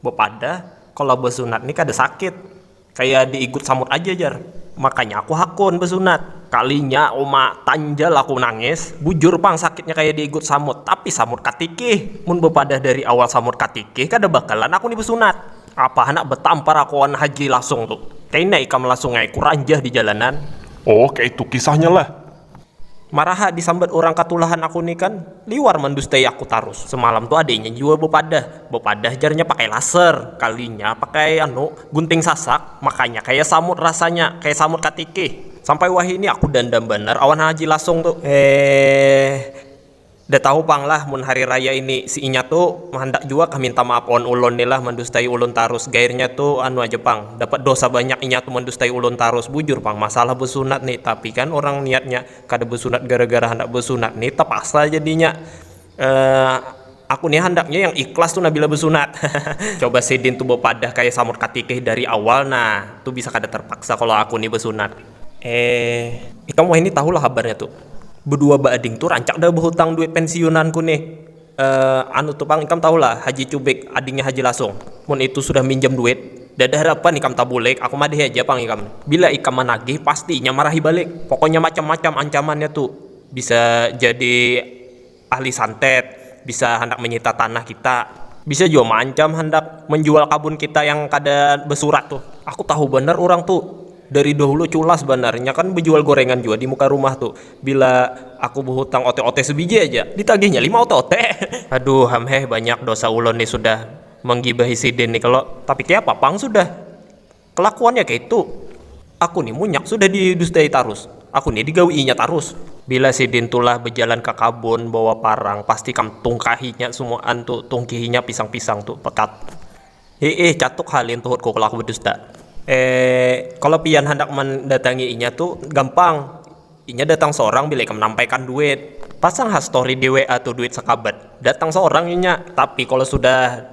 Bepada, kalo besunat ni kada sakit, kaya di igut samut aja jar. Makanya aku hakun besunat. Kalinya uma tanjal aku nangis, bujur pang sakitnya kaya di igut samut, tapi samut katikih. Mun bepadah dari awal samut katikih kada bakalan aku ni besunat. Apa handak betampar aku wan Haji Lasung tu. Kaina ikam Lasung ai kuranjah di jalanan. Oh kaitu kisahnya lah. Maraha disambat urang katulahan aku ni kan, liwar mandustai aku tarus. Semalam tu adainya jua bapadah, bapadah jarnya pakai laser, kalinya pakai anu gunting sasak, makanya kaya samut rasanya, kaya samut katikih. Sampai wahini aku dandam banar awan Haji Lasung tu. Heeeeh. Nda tahu pang lah mun hari raya ini si inya tu handak jua kah minta maap wan ulun ni lah mandustai ulun tarus gairnya tu anu aja pang dapat dosa banyak inya tu mandustai ulun tarus bujur pang masalah besunat ni tapi kan urang niatnya kada besunat gara gara handak besunat ni tapaksa jadinya eehh aku ni handaknya yang ikhlas tu nah bila besunat hahaha. Coba sidin tu bepadah kaya samur katikih dari awal nah tu bisa kada terpaksa kalo aku ni besunat. Eh, ikam wahini tahu lah habarnya tu. Bedua baading tu rancak dah behutang duit pensiunan ku nih. Eh, anu tu pang ikam tahu lah Haji Cubik, adingnya Haji Lasung. Mun itu sudah minjam duit, dada harapan ikam tabulik, aku madahi aja pang ikam. Bila ikam managih, pasti inya marahi balik. Pokoknya macam-macam ancamannya tu. Bisa jadi. Ahli santet bisa handak menyita tanah kita. Bisa jua maancam handak menjual kabun kita yang kada basurat tuh. Aku tahu banar urang tuh. Dari dahulu culas banar. Inya kan bejual gorengan jua di muka rumah tuh. Bila aku behutang ote-ote sebiji haja, ditagihnya lima ote-ote. Aduh ham heh, banyak dosa ulun nih sudah menggibahi sidin nih kalo. Tapi kayapa pang sudah. Kelakuannya kaitu. Aku ni munyak sudah didustai tarus. Aku ni digawiinya tarus. Bila sidin tulah bajalan ka kabun bawa parang pasti kam tungkahinya sumaan tu, tungkihinya pisang-pisang tu, pekat. Hiih, catuk ha lin tuhutku kelaku badusta. Eee, kalo pian handak mandatangi inya tu gampang. Inya datang sorang bila ikam nampaikan duit. Pasang ha story di WA tu duit sakabat. Datang sorang inya. Tapi kalo sudah.